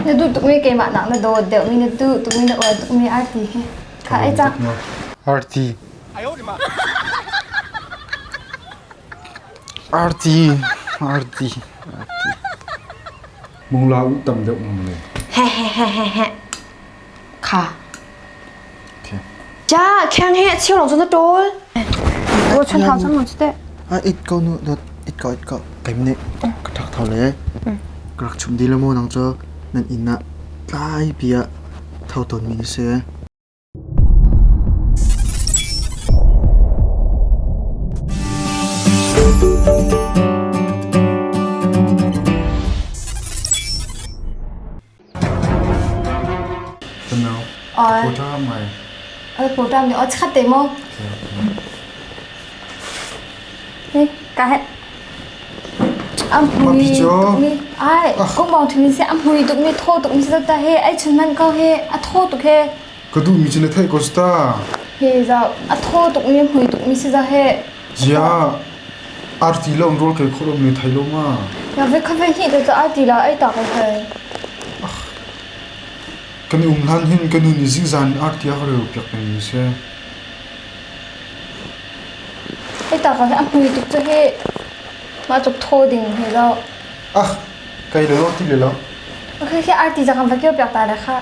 Na duh tukmi keimah nak na dawt deuhmi na duh tukmi na uar tukmi arti hi. Kha ai cak. Arti. Arti. Arti. Mungla u tam deuh mung le. He he he he he. Jia, kheng hi a cheu lawng cun a ṭawl. Rawl chun thau cun mun cu teh. A it ko nu, dot it ko it ko. Kaim nih ka ṭhak thau le. Ka rak chum di le maw nang cu nan inn ah tlai pi ah thau tawn mi na si. Ai, kung bong thumin se a mui tuk mi thaw tuk mi se ta he ai chun man ko he a thaw tuk he Ka duhmi cu na theih ko ta. He zau a thaw tukmi hmui tukmi si za he. Zia arti lo rawl kai khawh lomi thei lo ma. Na ve kha ve hnih tu ai ti la ai ta ko hai. Kan i um hlan hin kan nu nih zingzan in arti a ka reu piak kan ni se. Ai ta ko he a hmui tuk cu he. Ma chok thaw ding he zau. Ah, kai le lo ti le lo. Ok he arti zakam va kêu piak ta ra kha.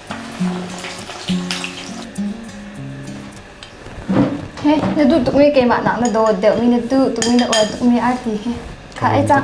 Na duh tukmi keimah nak na dawt deuhmi na duh tukmi na uat tukmi arti khi kha ai cak.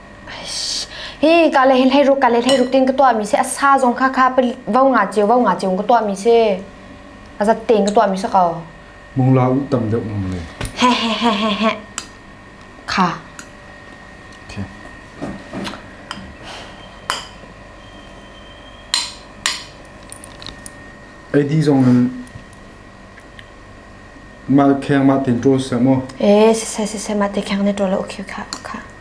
hi ka le hlei ruk ka le hlei ruk tin ka tua mi se asa zong kha kha vau nga chiu vau nga chiu ka tua mi se azat ten ka tua mi se ko mong la u tam deuh mong le he he he he he kha okay. Edi zong in mal kheng ma tin tro se mo eh se se se se ma te kheng ne tro la okay kha kha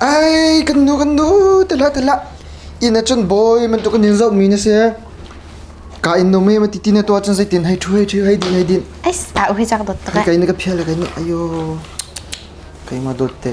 Ai, kan nu kan nu tela tela ina chun boy man tu kan in zo mi na se ka in no me ma ti na to chun sai tin hai thu hai thu hai din hai din Ais, ah hui chak dot ka. kai na ka phia la kai na ayo kai ma dot te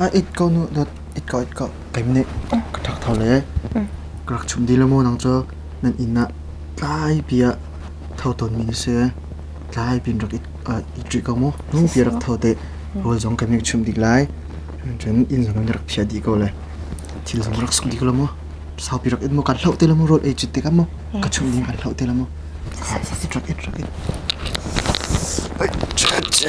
a it ko nu dot it ko it ko keim nih ka thak thau le ka rak chum di le maw nang cu nan inn ah tlai pi ah thau ton mi na si tlai pin rak it it ri ko mu nu pi rak thau te rawl zong kan rak chum dik lai cun inn zong kan rak phia di ko le thil zong rak suk di ko le maw sau pi rak it mu kan hloh te le maw rawl ei chut te ka mu ka chum ding kan hloh te le maw ka it rak it rak it Ch -ch